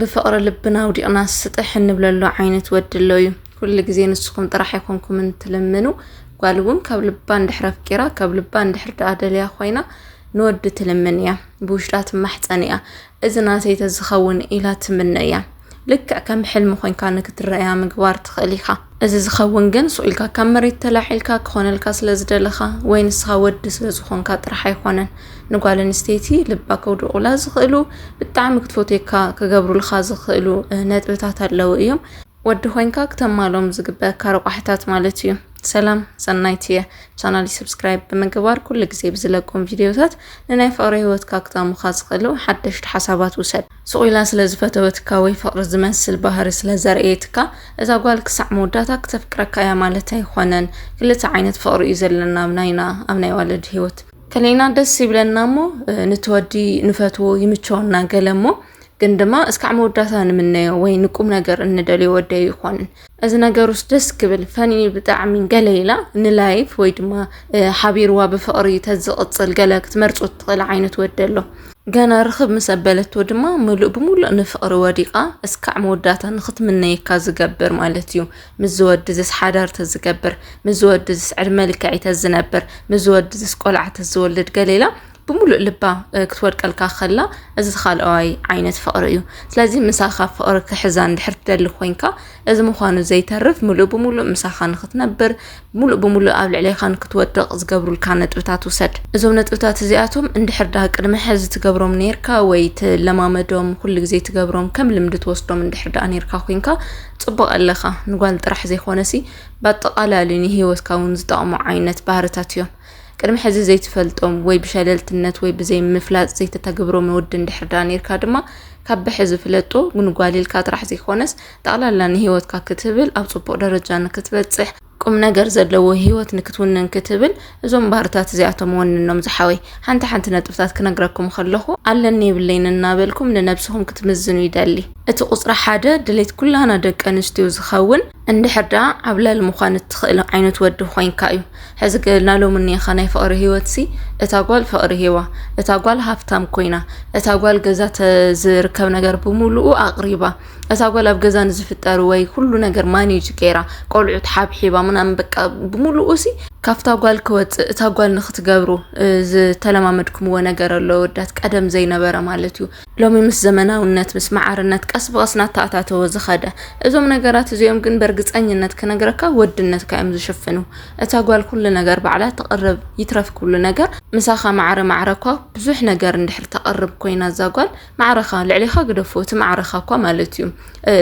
ብፍቕሪ ልብና ኣውዲቕናስ ስጥሕ እንብለሉ ዓይነት ወዲ ኣሎ እዩ። ኩሉ ግዜ ንስኹም ጥራሕ ኣይኮንኩምን ትልምኑ። ጓል እውን ካብ ልባ እንድሕር ኣፍቂራ ካብ ልባ እንድሕር ደኣ ደልያ ኮይና ንወዲ ትልምን እያ፣ ብውሽጣ ትማሕፀን እያ። እዚ ናተይ ተዝኸውን ኢላ ትምነ እያ። ልክዕ ከም ሕልሚ ኮንካ ንክትረኣያ ምግባር ትኽእል ኢኻ። እዚ ዝኸውን ግን ሱቕ ኢልካ ካብ መሬት ተላዒልካ ክኾነልካ ስለ ዝደለኻ ወይ ንስኻ ወዲ ስለ ዝኾንካ ጥራሕ ኣይኮነን። ንጓል ኣንስተይቲ ልባ ከውድቑላ ዝኽእሉ ብጣዕሚ ክትፈትየካ ክገብሩልካ ዝኽእሉ ነጥብታት ኣለዉ እዮም ወዲ ኮይንካ ክተማሎም ዝግበካ ረቋሕታት ማለት እዩ ሰላም ሰናይት እየ ቻናሊ ሰብስክራይብ ብምግባር ኩሉ ግዜ ብዝለቆም ቪድዮታት ንናይ ፍቕሪ ህይወትካ ክጠሙካ ዝኽእሉ ሓደሽቲ ሓሳባት ውሰድ ሱቕ ኢላ ስለ ዝፈተወትካ ወይ ፍቕሪ ዝመስል ባህሪ ስለ ዘርእየትካ እዛ ጓል ክሳዕ መወዳእታ ክተፍቅረካ እያ ማለት ኣይኾነን ክልተ ዓይነት ፍቕሪ እዩ ዘለና ኣብ ናይና ኣብ ናይ ዋለድ ህይወት ከለና ደስ ይብለና እሞ ንትወዲ ንፈትዎ ይምቸወና ገለ እሞ ግን ድማ እስካዕ መወዳእታ ንምነዮ ወይ ንቁም ነገር እንደልዮ ወዲ ኣይኮንን እዚ ነገር ውስጥ ደስ ክብል ፈኒ ብጣዕሚ ገለ ኢላ ንላይፍ ወይ ድማ ሓቢርዋ ብፍቕሪ ተዝቕፅል ገለ ክትመርፆ ትኽእል ዓይነት ወዲ ኣሎ ገና ርኽብ ምስ ኣበለቶ ድማ ምሉእ ብምሉእ ንፍቕሪ ወዲቓ እስካዕ መወዳእታ ንኽትምነየካ ዝገብር ማለት እዩ ምስዚ ወድዝስ ሓዳር ተዝገብር ምስዚ ወድዝስ ዕድመ ልክዐይ ተዝነብር ምስዚ ወድዝስ ቆልዓ ተዝወልድ ገለ ኢላ ብምሉእ ልባ እ፣ ክትወድቀልካ ከላ እዚ ዝኻልኣዋይ ዓይነት ፍቕሪ እዩ ስለዚ ምሳኻ ፍቕሪ ክሕዛ እንድሕር ትደሊ ኮንካ እዚ ምዃኑ ዘይተርፍ ምሉእ ብምሉእ ምሳኻ ንኽትነብር ምሉእ ብምሉእ ኣብ ልዕሌኻ ንክትወድቕ ዝገብሩልካ ነጥብታት ውሰድ። እዞም ነጥብታት እዚኣቶም እንድሕር ደኣ ቅድሚ ሕዚ ትገብሮም ኔርካ ወይ ትለማመዶም ኩሉ ግዜ ትገብሮም ከም ልምዲ ትወስዶም እንድሕር ደኣ ኔርካ ኮይንካ ጽቡቕ ኣለኻ። ንጓል ጥራሕ ዘይኮነሲ ብኣጠቓላሊ ንህይወትካ እውን ዝጠቕሙ ዓይነት ባህርታት እዮም። ቅድሚ ሕዚ ዘይትፈልጦም ወይ ብሸለልትነት ወይ ብዘይ ምፍላጥ ዘይተተግብሮም ወዲ እንድሕር ደኣ ኔርካ ድማ ካብ ብሕዚ ፍለጦ ንጓል ኢልካ ጥራሕ ዘይኮነስ ጠቕላላ ንህይወትካ ክትብል ኣብ ጽቡቕ ደረጃ ንክትበጽሕ ቁም ነገር ዘለዎ ህይወት ንክትውንን ክትብል እዞም ባህርታት እዚኣቶም ወንኖም ዝሓወይ ሓንቲ ሓንቲ ነጥብታት ክነግረኩም ከለኹ ኣለኒ የብለይን እናበልኩም ንነብስኹም ክትምዝኑ ይደሊ እቲ ቁጽሪ ሓደ ድሌት ኩላና ደቂ ኣንስትዮ ዝኸውን እንድሕር ደኣ ዓብላል ምዃን እትኽእል ዓይነት ወዲ ኮይንካ እዩ ሕዚ ገና ሎሚ እኒኻ ናይ ፍቕሪ ህይወት ሲ እታ ጓል ፍቕሪ ሂባ እታ ጓል ሃፍታም ኮይና እታ ጓል ገዛ ዝርከብ ነገር ብምሉኡ ኣቕሪባ እታ ጓል ኣብ ገዛ ንዝፍጠር ወይ ኩሉ ነገር ማኔጅ ገይራ ቆልዑት ሓብሒባ ምናምን በቃ ብምሉኡ ሲ ካብታ ጓል ክወፅእ እታ ጓል ንክትገብሩ እ፣ ዝተለማመድኩምዎ ነገር ኣሎ ወዳት ቀደም ዘይነበረ ማለት እዩ ሎሚ ምስ ዘመናውነት ምስ መዓርነት ቀስ ብቐስ ናተኣታተወ ዝኸደ እዞም ነገራት እዚኦም ግን በርግፀኝነት ክነግረካ ወድነትካ እዮም ዝሽፍኑ እታ ጓል ኩሉ ነገር ባዕላ ተቕርብ ይትረፍ ኩሉ ነገር ምሳኻ ማዕረ ማዕረ እኳ ብዙሕ ነገር እንድሕር ተቕርብ ኮይና እዛ ጓል ማዕረኻ ልዕሌኻ ግደፎ እቲ ማዕረኻ እኳ ማለት እዩ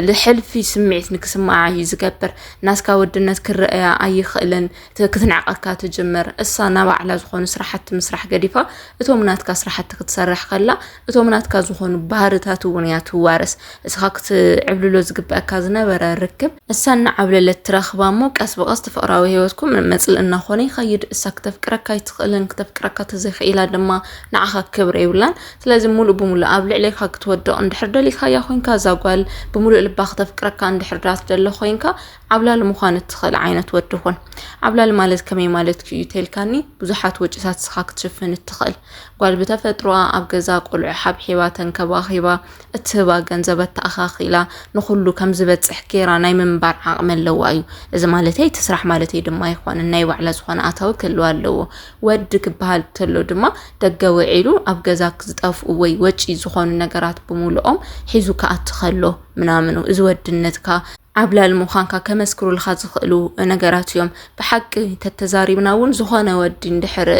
ልሕልፊ ስምዒት ንክስምዓ እዩ ዝገብር ናትካ ወድነት ክረአያ ኣይኽእልን ክትንዕቐካ ትጅምር እሳ ናብ ኣዕላ ዝኾኑ ስራሕቲ ምስራሕ ገዲፋ እቶም ናትካ ስራሕቲ ክትሰርሕ ከላ እቶም ናትካ ዝኾኑ ባህርታት እውን እያ ትዋረስ እስኻ ክትዕብልሎ ዝግበአካ ዝነበረ ርክብ እሳ እናዓብለለት ትረኽባ እሞ ቀስ ብቐስ ትፍቕራዊ ህይወትኩም መፅልኢ እናኾነ ይኸይድ እሳ ክተፍቅረካ ኣይትኽእልን ክተፍቅረካ ተዘይኽኢላ ድማ ንዓኻ ክብሪ የብላን ስለዚ ሙሉእ ብሙሉእ ኣብ ልዕሌካ ክትወድቕ እንድሕር ደሊኻያ ኮይንካ እዛ ጓል ብምሉእ ልባ ክተፍቅረካ እንድሕር ዳ ትደሊ ኮይንካ ዓብላሊ ምዃን እትኽእል ዓይነት ወዲ ኹን። ዓብላሊ ማለት ከመይ ማለትኪ እዩ ተልካኒ ብዙሓት ወጪታት ንስኻ ክትሽፍን እትኽእል ጓል ብተፈጥሮኣ ኣብ ገዛ ቆልዑ ሓብሒባ ተንከባኺባ እትህባ ገንዘብ ኣተኣኻኺላ ንኹሉ ከም ዝበጽሕ ጌራ ናይ ምንባር ዓቕሚ ኣለዋ እዩ። እዚ ማለተይ እቲ ስራሕ ማለተይ ድማ ኣይኮነን ናይ ባዕላ ዝኾነ ኣታዊ ክህልዋ ኣለዎ። ወዲ ክበሃል ተሎ ድማ ደገ ውዒሉ ኣብ ገዛ ዝጠፍኡ ወይ ወጪ ዝኾኑ ነገራት ብምሉኦም ሒዙ ክኣቲ ከሎ ምናምኑ እዚ ወድነትካ ዓብላል ምዃንካ ከመስክሩልካ ዝኽእሉ ነገራት እዮም። ብሓቂ ተተዛሪብና እውን ዝኾነ ወዲ እንድሕር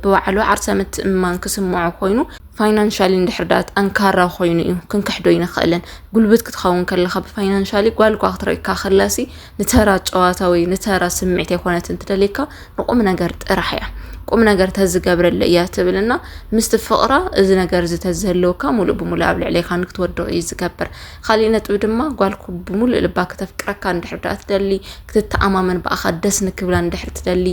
ብባዕሉ ዓርሰ ምትእምማን ክስምዖ ኮይኑ ፋይናንሻሊ እንድሕር ዳ ጠንካራ ኮይኑ እዩ ክንክሕዶ ኣይንኽእልን። ጉልብት ክትኸውን ከለኻ ብፋይናንሻሊ ጓል እኳ ክትረካ ከላሲ ንተራ ጨዋታ ወይ ንተራ ስምዒት የኮነትን ትደልየካ ንቁም ነገር ጥራሕ እያ ቁም ነገር ተዝገብረለ እያ ትብልና ምስቲ ፍቕራ እዚ ነገር እዚ ተዝህልወካ ሙሉእ ብሙሉእ ኣብ ልዕሌካ ንክትወድቕ እዩ ዝገብር ካሊእ ነጥቢ ድማ ጓልኩ ብሙሉእ ልባ ክተፍቅረካ እንድሕር ድኣ ትደሊ ክትተኣማመን ብኣኻ ደስ ንክብላ እንድሕር ትደሊ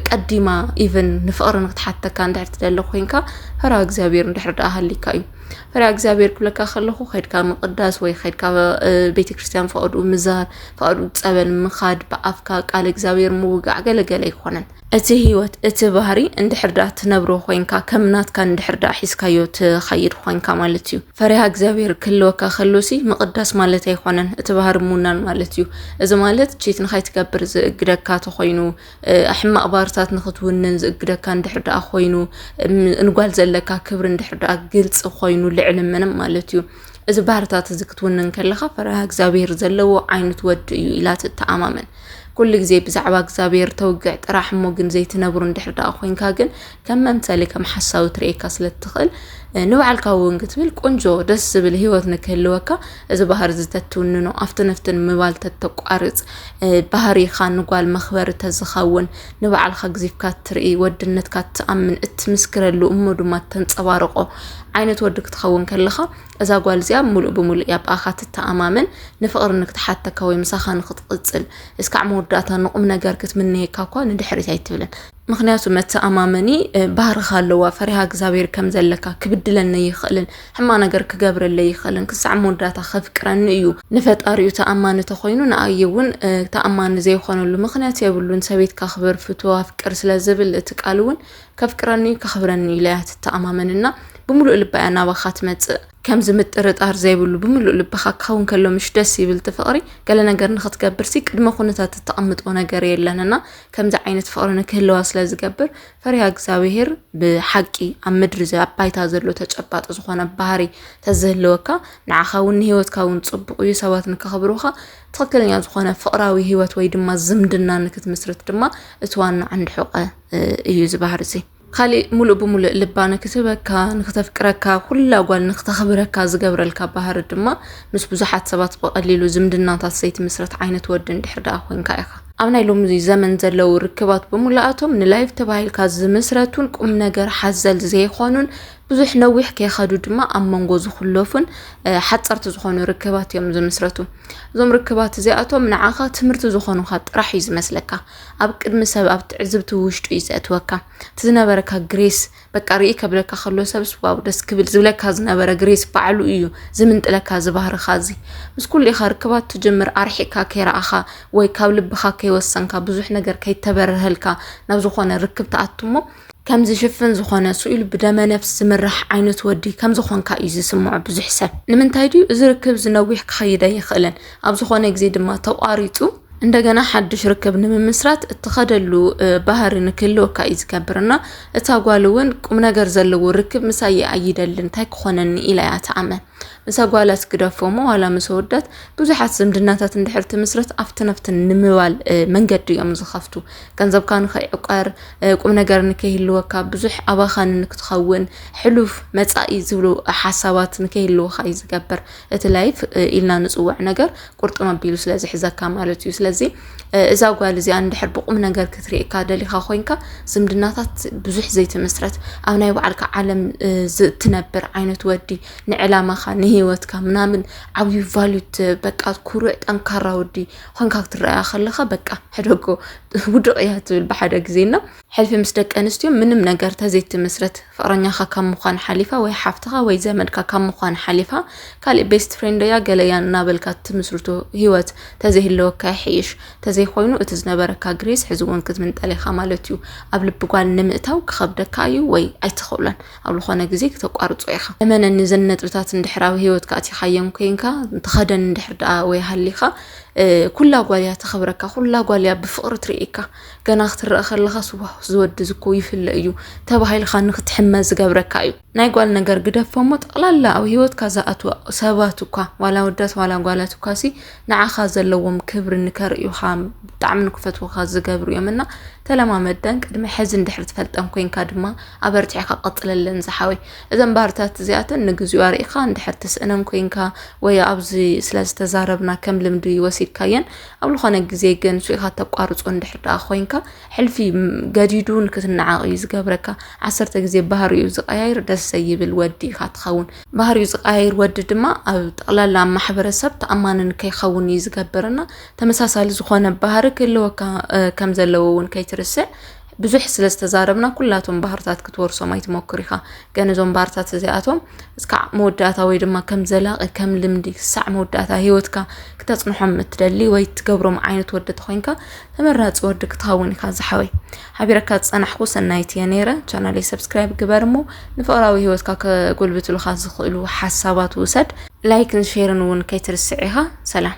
ቀዲማ ኢቨን ንፍቕሪ ንክትሓተካ እንድሕር ትደሊ ኮይንካ ፈራ እግዚኣብሔር እንድሕር ድኣ ሃሊካ እዩ ፈሪሃ እግዚኣብሔር ክብለካ ከለኹ ከድካ ምቅዳስ ወይ ከድካ ቤተክርስትያን ፈቅዱ ምዛር ፈቅዱ ፀበል ምኻድ ብኣፍካ ቃል እግዚኣብሔር ምውጋዕ ገለገለ ኣይኮነን እቲ ህይወት እቲ ባህሪ እንድሕር ድኣ ትነብሮ ኮንካ ከም ናትካ እንድሕር ድኣ ሒዝካዮ ትኸይድ ኮንካ ማለት እዩ ፈሪሃ እግዚኣብሔር ክህልወካ ከሎሲ ምቅዳስ ማለት ኣይኮነን እቲ ባህሪ ምውናን ማለት እዩ እዚ ማለት ቺት ንኸይትገብር ዝእግደካ ተኾይኑ ሕማቕ ባህርታት ንኽትውንን ዝእግደካ እንድሕር ደኣ ኮይኑ እንጓል ዘለካ ክብሪ እንድሕር ደኣ ግልፂ ኮይኑ ልዕሊ ምንም ማለት እዩ እዚ ባህርታት እዚ ክትውንን ከለኻ ፈሪሃ እግዚኣብሄር ዘለዎ ዓይነት ወዲ እዩ ኢላ ትተኣማመን ኩሉ ግዜ ብዛዕባ እግዚኣብሄር ተውግዕ ጥራሕ እሞ ግን ዘይትነብሩ እንድሕር ደኣ ኮንካ ግን ከም መምሰሊ ከም ሓሳዊ ትርእየካ ስለ እትኽእል ንባዕልካ እውን ክትብል ቆንጆ ደስ ዝብል ህይወት ንክህልወካ እዚ ባህሪ እዚ ተትውንኖ ኣብቲ ነፍትን ምባል ተተቋርፅ ባህሪኻ ንጓል መኽበሪ ተዝኸውን ንባዕልካ ግዚፍካ እትርኢ ወድነትካ እትኣምን እትምስክረሉ እሞ ድማ እተንፀባርቆ ዓይነት ወዲ ክትኸውን ከለኻ እዛ ጓል እዚኣ ሙሉእ ብሙሉእ እያ ብኣኻ ትተኣማመን ንፍቕሪ ንክትሓተካ ወይ ምሳኻ ንክትቕፅል እስካዕ መወዳእታ ንቑም ነገር ክትምነየካ እኳ ንድሕሪት ኣይትብልን ምክንያቱ መተኣማመኒ ባህርኻ ኣለዋ ፈሪሃ እግዚኣብሔር ከም ዘለካ ክብድለኒ ይኽእልን ሕማቅ ነገር ክገብረለይ ይኽእልን ክሳዕ መወዳእታ ከፍቅረኒ እዩ ንፈጣሪኡ ተኣማኒ ተኾይኑ ንኣየ እውን ተኣማኒ ዘይኾነሉ ምክንያት የብሉን ሰበይትካ ኣኽብር ፍቶ ኣፍቅር ስለ ዝብል እቲ ቃል እውን ከፍቅረኒ እዩ ከኽብረኒ ኢለያ ትተኣማመንና ብምሉእ ልባ እያ ናባኻ ትመፅእ ከምዚ ምጥርጣር ዘይብሉ ብምሉእ ልብኻ ክኸውን ከሎ ምሽ ደስ ይብል እቲ ፍቕሪ ገለ ነገር ንኽትገብርሲ ቅድመ ኩነታት እተቐምጦ ነገር የለን እና ከምዚ ዓይነት ፍቕሪ ንክህልዋ ስለ ዝገብር ፈሪሃ እግዚኣብሄር ብሓቂ ኣብ ምድሪ ዘ- ኣብ ባይታ ዘሎ ተጨባጢ ዝኾነ ባህሪ ተዝህልወካ ንዓኻ እውን ንሂወትካ እውን ጽቡቕ እዩ ሰባት ንከኽብሩኻ ትኽክለኛ ዝኾነ ፍቕራዊ ሂወት ወይ ድማ ዝምድና ንክትምስርት ድማ እቲ ዋና ዓንዲ ሕቐ እ፣ እዩ እዚ ባህሪ እዚ ኻሊእ ሙሉእ ብሙሉእ ልባ ንክትህበካ፣ ንክተፍቅረካ፣ ኩላ ጓል ንክተኽብረካ ዝገብረልካ ባህሪ ድማ ምስ ብዙሓት ሰባት ብቐሊሉ ዝምድናታት ዘይትምስረት ዓይነት ወዲ እንድሕር ደኣ ኮይንካ ኢኻ። ኣብ ናይ ሎሚ ዘመን ዘለዉ ርክባት ብሙሉኣቶም ንላይፍ ተባሂልካ ዝምስረቱን ቁምነገር ሓዘል ዘይኾኑን ብዙሕ ነዊሕ ከይኸዱ ድማ ኣብ መንጎ ዝኹለፉን ሓፀርቲ ዝኾኑ ርክባት እዮም ዝምስረቱ። እዞም ርክባት እዚኣቶም ንዓኻ ትምህርቲ ዝኾኑኻ ጥራሕ እዩ ዝመስለካ። ኣብ ቅድሚ ሰብ ኣብ ትዕዝብቲ ውሽጡ እዩ ዘእትወካ እቲ ዝነበረካ ግሬስ በቃ ርኢ ከብለካ ከሎ ሰብስ ዋው ደስ ክብል ዝብለካ ዝነበረ ግሬስ ባዕሉ እዩ ዝምንጥለካ ዝባህርካ እዚ ምስ ኩሉ ኢኻ ርክባት ትጅምር ኣርሒካ ከይረኣኻ ወይ ካብ ልብኻ ከይወሰንካ ብዙሕ ነገር ከይተበርሀልካ ናብ ዝኾነ ርክብ ተኣቱ እሞ ከም ዝሽፍን ዝኾነ ስኢሉ ብደመ ነፍስ ዝምራሕ ዓይነት ወዲ ከም ዝኾንካ እዩ ዝስምዖ ብዙሕ ሰብ። ንምንታይ ድዩ እዚ ርክብ ዝነዊሕ ክኸይድ ኣይኽእልን፣ ኣብ ዝኾነ ግዜ ድማ ተቋሪጹ እንደገና ሓድሽ ርክብ ንምምስራት እትኸደሉ ባህሪ ንክህልወካ እዩ ዝገብር እና እታ ጓል እውን ቁም ነገር ዘለዎ ርክብ ምሳይ እየ ኣይደልን እንታይ ክኾነኒ ኢላ እያ ትኣመን። ምስ ኣጓላት ግደፎሞ ዋላ ምስ ኣወዳት ብዙሓት ዝምድናታት እንድሕር ትምስረት ኣብትን ኣብትን ንምባል መንገዲ እዮም ዝኸፍቱ ገንዘብካ ንኸይዕቀር ቁም ነገር ንከይህልወካ ብዙሕ ኣባኻኒ ንክትኸውን ሕሉፍ መፃኢ ዝብሉ ሓሳባት ንከይህልወካ እዩ ዝገብር እቲ ላይፍ ኢልና ንፅውዕ ነገር ቁርጥም ኣቢሉ ስለ ዝሕዘካ ማለት እዩ ስለዚ እዛ ጓል እዚኣ እንድሕር ብቁም ነገር ክትርእካ ደሊካ ኮንካ ዝምድናታት ብዙሕ ዘይትምስረት ኣብ ናይ ባዕልካ ዓለም ዝትነብር ዓይነት ወዲ ንዕላማካ ንሂወትካ ምናምን ዓብዩ ቫሉት በቃ ኩሩዕ ጠንካራ ወዲ ኮንካ ክትረኣያ ከለካ በቃ ሕደጎ ውድቅ እያ ትብል ብሓደ ግዜ ና ሕልፊ ምስ ደቂ ኣንስትዮ ምንም ነገር ተዘይትምስርት ፍቕረኛኻ ካብ ምዃን ሓሊፋ ወይ ሓፍትኻ ወይ ዘመድካ ካብ ምዃን ሓሊፋ ካሊእ ቤስት ፍሬንደያ ገለያ እናበልካ ትምስርቶ ህይወት ተዘይህለወካ ይሕይሽ ተዘይኮይኑ እቲ ዝነበረካ ግሬስ ሕዚ እውን ክትምንጠል ኢኻ ማለት እዩ ኣብ ልቢ ጓል ንምእታው ክኸብደካ እዩ ወይ ኣይትኽእሎን ኣብ ዝኾነ ግዜ ክተቋርጾ ኢኻ እመነኒ ዘን ነጥብታት እንድሕር ኣብ ህይወትካ ኣቲኻዮም ኮይንካ ተኸደን እንድሕር ደኣ ወይ ሃሊኻ ኩላ ጓልያ ተኸብረካ ኩላ ጓልያ ብፍቕሪ ትርእየካ ገና ክትረአ ከለኻ ስዋስ ዝወዲ ዝኮ ይፍለ እዩ ተባሂልካ ንክትሕመ ዝገብረካ እዩ ናይ ጓል ነገር ግደፎ እሞ ጠቕላላ ኣብ ሂወትካ ዝኣትወ ሰባት እኳ ዋላ ወዳት ዋላ ጓላት እኳ ሲ ንዓኻ ዘለዎም ክብሪ ንከርእዩኻ ብጣዕሚ ንክፈትወካ ዝገብሩ እዮም እና ተለማመደን ቅድሚ ሕዚ እንድሕር ትፈልጠን ኮንካ ድማ ኣበርቲዕካ ቀፅለለን ዝሓወይ እዘን ባህርታት እዚኣተን ንግዚኡ ኣርእኻ እንድሕር ትስእነን ኮንካ ወይ ኣብዚ ስለዝተዛረብና ከም ልምዲ ወሲድካየን ኣብ ዝኾነ ግዜ ግን ሱኢኻ ተቋርጾ እንድሕር ደኣ ኮይንካ ሕልፊ ገዲዱ ንክትነዓቕ እዩ ዝገብረካ። ዓሰርተ ግዜ ባህሪኡ ዝቀያይር ደስ ዘይብል ወዲ ኢኻ ትኸውን። ባህሪኡ ዝቀያይር ወዲ ድማ ኣብ ጠቕላላ ኣብ ማሕበረሰብ ተኣማኒ ንከይኸውን እዩ ዝገብር እና ተመሳሳሊ ዝኾነ ባህሪ ክህልወካ ከም ዘለዎ እውን ከይትርስዕ። ብዙሕ ስለ ዝተዛረብና ኩላቶም ባህርታት ክትወርሶም ኣይትሞክር ኢኻ ግን እዞም ባህርታት እዚኣቶም እስካዕ መወዳእታ ወይ ድማ ከም ዘላቒ ከም ልምዲ ክሳዕ መወዳእታ ሂወትካ ክተጽንሖም እትደሊ ወይ ትገብሮም ዓይነት ወዲ ተኾይንካ ተመራጺ ወዲ ክትኸውን ኢኻ ዝሓወይ ሓቢረካ ዝጸናሕኩ ሰናይት እየ ነይረ ቻናለይ ሰብስክራይብ ግበር እሞ ንፍቕራዊ ሂወትካ ከጎልብትሉኻ ዝኽእሉ ሓሳባት ውሰድ ላይክን ሼርን እውን ከይትርስዕ ኢኻ ሰላም